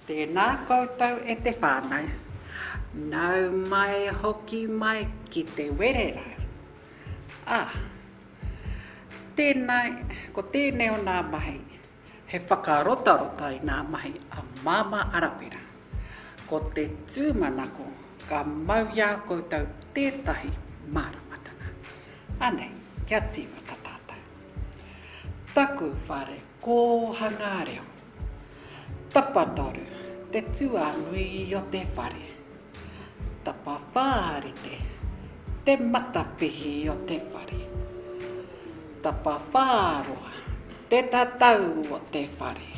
Tēnā koutou e te whānau. Nau mai hoki mai ki te wererau. Ā, tēnā, ko tēnei o nā mahi, he whakarotarota i nā mahi a Māmā Arapera. Ko te tūmanako ka mau i a koutou tētahi māramatanga. Anei, kia tīmata tātou. Taku whare Kōhangā reo. Tapatoru, te tuanui o te whare. Tapawhā rite, te matapihi o te whare. Tapawhā roa, te tatau o te whare.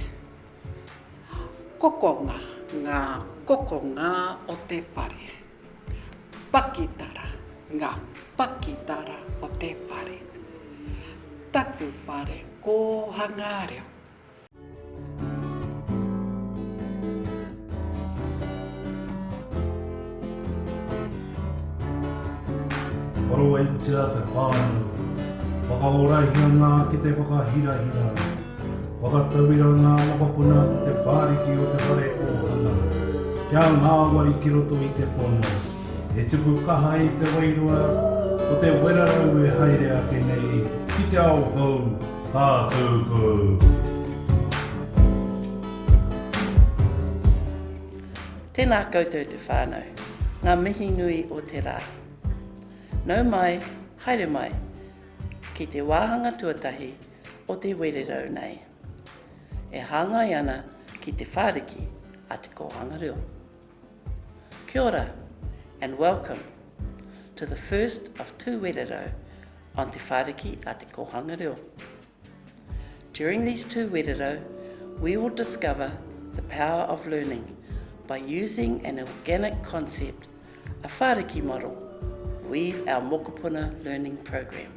Kokonga, ngā kokonga o te whare. Pakitara, ngā pakitara o te whare. Taku whare kōhangā reo. Wharoaitia te whānau. Whakaōraihia ngā kete whakahirahira. Whakatauira ngā mokopuna ki te whāriki o te whare ōhanga, kia ngāwari ki roto i te pono. He tuku kaha i te wairua, ko te werarau e haere ake nei ki te ao hou ka tūku. Tēnā koutou te whānau, ngā mihi nui o te rā. Nau mai, haere mai ki te wāhanga tuatahi o Te Wererau nei, e hāngai ana ki Te Whāriki a Te Kōhanga Reo. Kia ora and welcome to the first of Tū Wererau on Te Whāriki a Te Kōhanga Reo. During these Tū Wererau, we will discover the power of learning by using an organic concept, a whāriki model, weave our mokopuna learning program.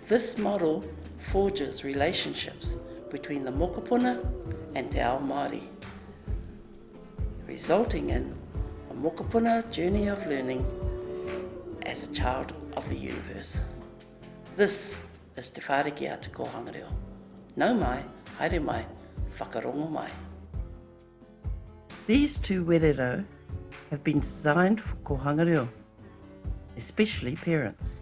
This model forges relationships between the mokopuna and te ao Māori, resulting in a mokopuna journey of learning as a child of the universe. This is Te Whāriki a Te Kōhanga Reo. Nau mai, haere mai, whakarongo mai. These two wererau have been designed for Kōhanga Reo, especially parents.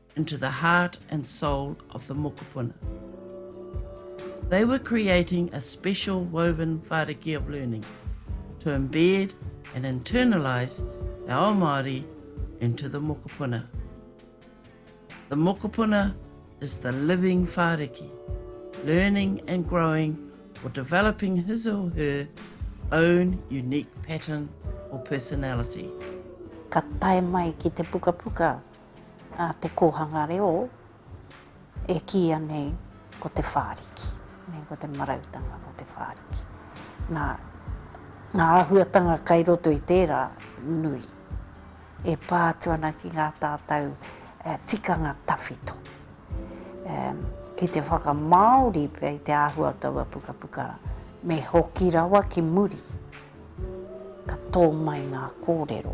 into the heart and soul of the mokopuna. They were creating a special woven whāriki of learning to embed and internalise te ao Māori into the mokopuna. The mokopuna is the living whāriki, learning and growing or developing his or her own unique pattern or personality. Ka tae mai ki te pukapuka. a te kōhanga reo e kīia nei ko Te Whāriki, nē, ko te marautanga o Te Whāriki. Nā, ngā āhuatanga kai roto i tērā, nui. E pā atu ana ki ngā tātou uh, tikanga tawhito. Um, ki te whakamāori pia i te āhua o taua pukapuka, me hoki rawa ki muri, ka tō mai ngā kōrero.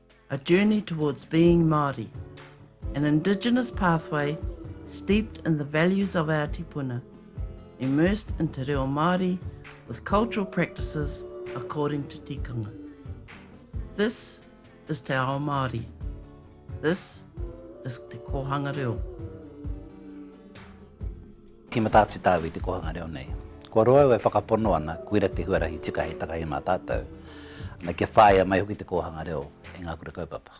A Journey Towards Being Māori, An Indigenous Pathway Steeped in the Values of Our Tipuna, Immersed in Te Reo Māori with Cultural Practices According to Tikanga. This is Te Ao Māori. This is Te Kōhanga Reo. Tīmata atu tāu i te kōhanga reo nei. Kua roa au e whakapono ana, koira te huarahi tika hei takahi mā tātou, ana, kia whāia mai hoki te kōhanga reo e ngā kura kaupapa.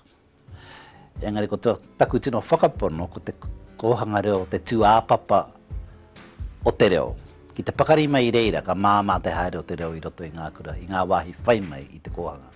Engari ko taku tino whakapono ko te kōhanga reo te tūāpapa o te reo. Ki te pakari mai i reira ka māmā te haere o te reo i roto i ngā kura, i ngā wāhi whai mai i te kōhanga.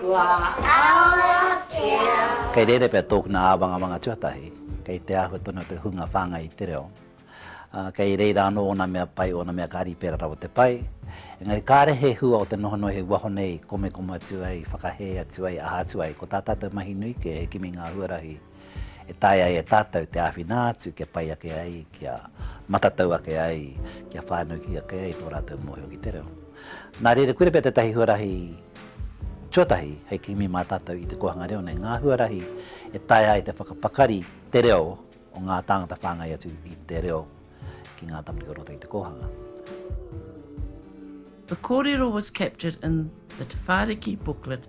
Kua arohakia. Kei reira pea tōkuna āwangamanga tuatahi, kei te āhua tonu o te hunga whāngai i te reo, ā, kei reira anō ōna mea pai, ōna mea kāri i pērā rawa te pai, engari kāre he hua o te noho noa hei waho nei i komekoma atu ai, i whakahē atu ai, i aha atu ai, ko tā tātou mahi nui kē he kimi ngā huarahi. e taea ai e tātou te āwhina atu kia pai ake ai, kia matatau ake ai, kia whānuki ake ai tō rātou mōhio ki te reo. Nā reira, kore pea tētahi huarahi tuatahi hei kimi mā tātou i te kōhanga reo nei, ngā huarahi e taea ai te whakapakari te reo o ngā tāngata whāngai atu i te reo ki ngā tamariki o roto i te kōhanga. The kōrero was captured in the Te Whāriki booklet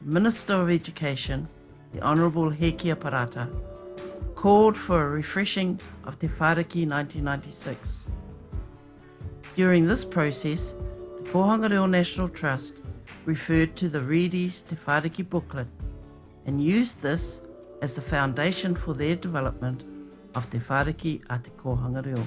Minister of Education, the Honourable Hēkia Parata, called for a refreshing of Te Whāriki 1996. During this process, Te Kōhanga Reo National Trust referred to the Reedy's Te Whāriki booklet and used this as the foundation for their development of Te Whāriki a Te Kōhanga Reo.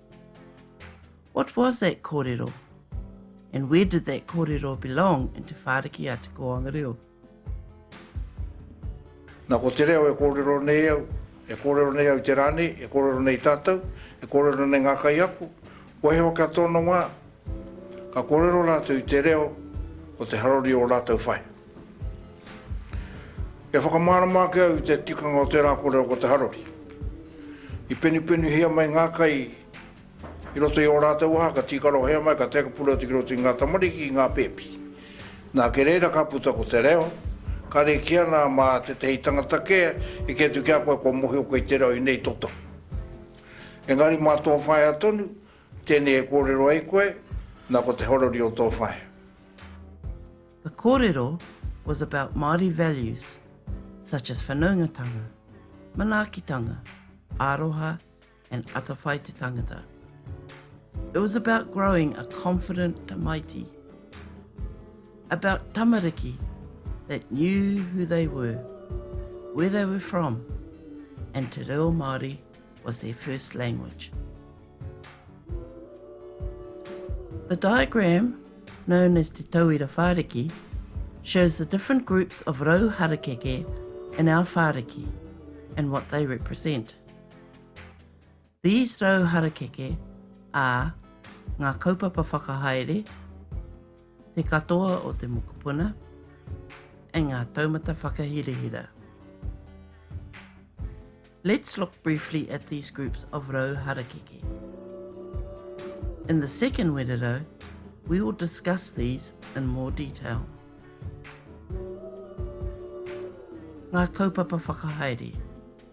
What was that kōrero? And where did that kōrero belong into Whāriki a Te Kōanga Reo? Na ko te reo e kōrero nei au, e kōrero nei au te rā nei, e kōrero nei tātou, e kōrero nei ngā kaiako, wahewa kia tōna wā, ka kōrero rātou i te reo o te harori o rātou whai. E whakamārama ake au i te tikanga o tērā kōrero ko te harori. I penupenuhia mai ngā kai i roto i ō rātou aha, ka tīkarohia mai, ka tēkapura atu ki roto i ngā tamariki, i ngā pēpi. Nā, kei reira ka puta ko te reo, ka rēki ana mā tētehi tangata kē e kī atu ki a koe kua mōhio koe i te reo i nei toto. Engari mā tō whaea tonu, tēnei e kōrero ai koe, nā ko te harori o tō whaea. The kōrero was about Māori values such as whanaungatanga, manaakitanga, aroha and atawhai te tangata. It was about growing a confident tamaiti, about tamariki that knew who they were, where they were from and te reo Māori was their first language. The diagram, known as Te Tauira Whāriki, shows the different groups of rau harakeke in our whāriki and what they represent. These rau harakeke are ngā kaupapa whakahaere, Te katoa o te mokopuna and ngā taumata whakahirahira. Let's look briefly at these groups of rau harakeke. In the second wererau, we will discuss these in more detail. Ngā kaupapa whakahaere.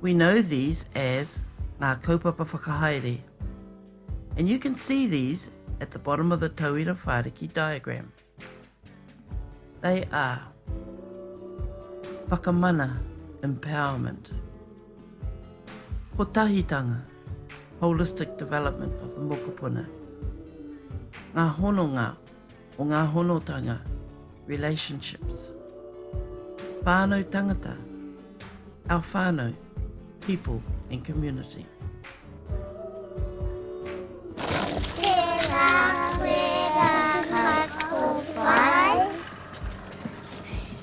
We know these as ngā kaupapa whakahaere and you can see these at the bottom of the tauira whāriki diagram. They are whakamana, empowerment, kotahitanga, holistic development of the mokopuna, ngā hononga, o ngā honotanga, relationships, whānau tangata, our whānau, people and community.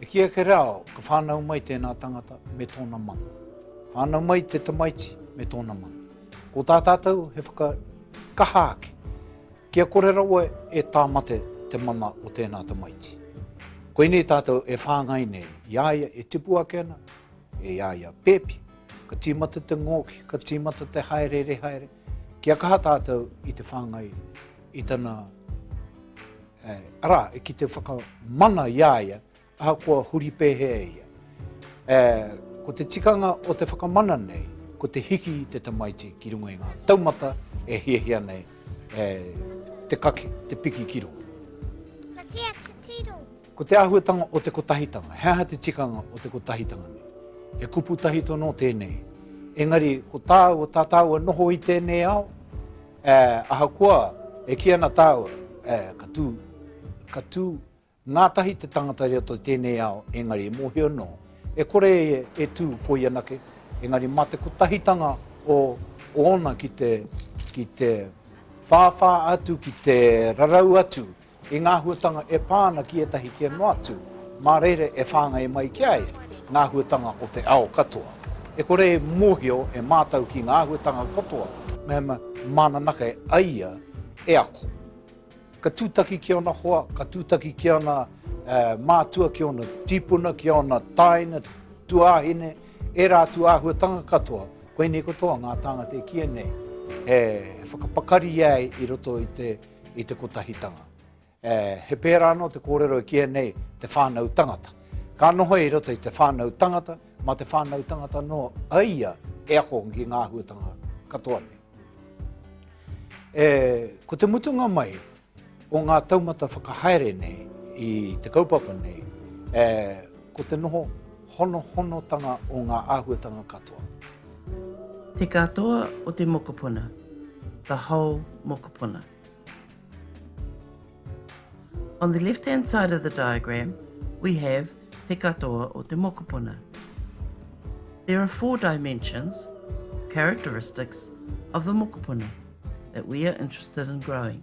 E kī ake rā, ka whānau mai tēnā tangata me tōna mahi. Whānau mai te tamaiti me tōna mahi. Ko tā tātou he whakakaha ake, kia kore rawa e tāmate te mama o tēnā tamaiti. Koinei tātou e whāngai nei, i a ia e tipu ake ana, e a ia pēpi, ka tīmata te ngōki, ka tīmata te haere rehaere, Kia kaha tātou i te whāngai i tana, arā, ki te whakamana i a ia, ahakoa huri pēhea e ia. Ko te tikanga o te whakamana nei, ko te hiki i te tamaiti ki runga i ngā taumata e hiahia nei te kake, te piki ki runga. Ka kī a Titiro. Ko te āhuatanga o te kotahitanga, he aha te tikanga o te kotahitanga nei? He kupu tahi tonu tēnei. Engari, ko tāua, tā tāua noho i tēnei ao, ē, ahakoa e kī ana tāua, ē, ka tū, ka tū ngātahi te tangata i roto i tēnei ao, engari e mōhio nō, e kore e, e tū koi anake, engari mā te kotahitanga o, o ōna ki te, ki te whāwhā atu, ki te rarau atu I ngā āhuatanga e pā ana ki ētahi kē noa atu, mā reira e whāngai mai ki a ia ngā āhuatanga o te ao katoa. E kore e mōhio e mātou ki ngā āhuatanga katoa mehemea māna nake a ia e ako. Ka tūtaki ki ōna hoa, ka tūtaki ki ōna mātua, ki ōna tīpuna, ki ōna tāina, tuāhine, ērā atu āhuatanga katoa, koinei katoa ngā tāngata e kīia nei, e whakapakari ai i roto i te. i te kotahitanga. E, he pērā anō te kōrero e kīia nei te whānau tangata. Ka noho i roto i te whānau tangata, mā te whānau tangata anō a ia e ako ki ngā āhuatanga katoa nei. E, ko te mutunga mai o ngā taumata whakahaere nei i te kaupapa nei, e, ko te noho honohonotanga o ngā āhuatanga katoa. Te katoa o te mokopuna, the whole mokopuna. On the left hand side of the diagram, we have te katoa o te mokopuna. There are four dimensions, characteristics, of the mokopuna that we are interested in growing.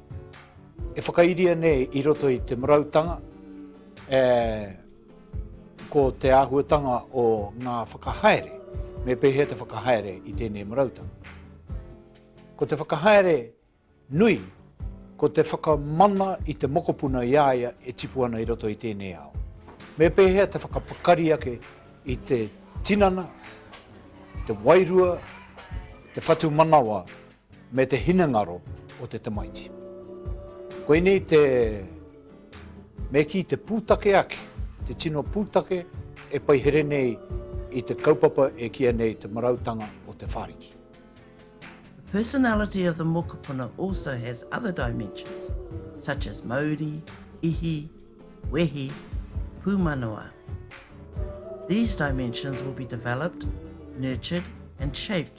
E whakairia nei i roto i te marautanga, e, ko te āhuatanga o ngā whakahaere, me pēhea te whakahaere i tēnei marautanga. Ko te whakahaere nui, ko te whakamana i te mokopuna i aia e tipu ana i roto i tēnei ao. Me pēhea te whakapakari ake i te tinana, te wairua, te whatu manawa me te hinengaro o te tamaiti. Koinei te me kī te pūtake ake, te tino pūtake e paihere nei i te kaupapa e kīa nei Te Marautanga o Te Whāriki. The personality of the mokopuna also has other dimensions, such as mauri, ihi, wehi, pūmanawa. These dimensions will be developed, nurtured and shaped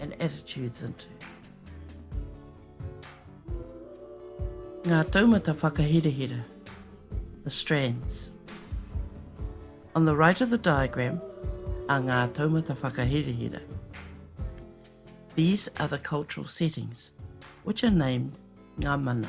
and attitudes into Ngā taumata whakahirahira, the strands. On the right of the diagram are ngā taumata whakahirahira. These are the cultural settings, which are named ngā mana.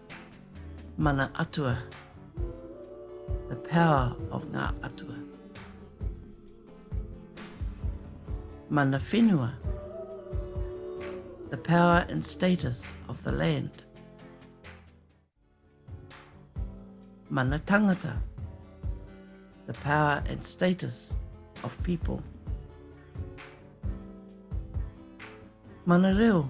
Mana Atua, the power of ngā atua. Mana Whenua, the power and status of the land. Mana Tangata, the power and status of people. Mana Reo,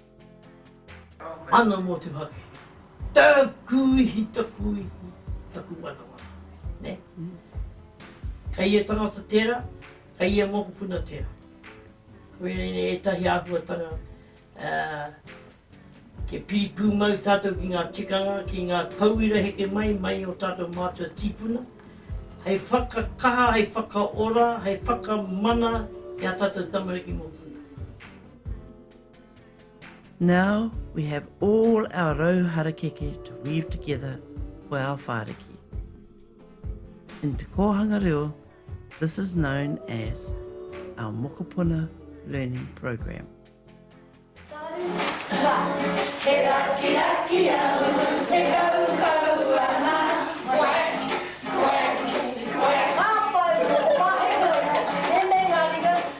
Ana motuhake. Taku ihi, taku ihi, taku wanawana. Ne? Kei ia tangata tera, kei ia mokopuna tera. Koinei nei etahi ahuatanga ke piri pumau tatou ki nga tikanga, ki nga tauira heke mai, mai o tatou matua tipuna, hei whakakaha, hei whakaora, hei whakamana i a tatou tamariki mokopuna. Now we have all our rau harakeke to weave together for our whāriki. In te kōhanga reo, this is known as our mokopuna learning program. He rakiraki au, he kaukau ana.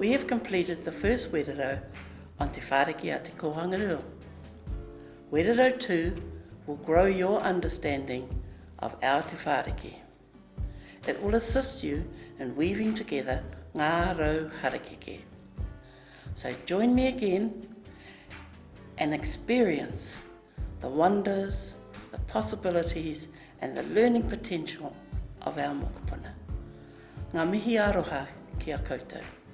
We have completed the first wererau on Te Whāriki a Te Kōhanga Rua. Wererau tū will grow your understanding of our Te Whāriki. It will assist you in weaving together ngā rau harakeke. So join me again and experience the wonders, the possibilities and the learning potential of our mokopuna. Ngā mihi aroha ki a koutou.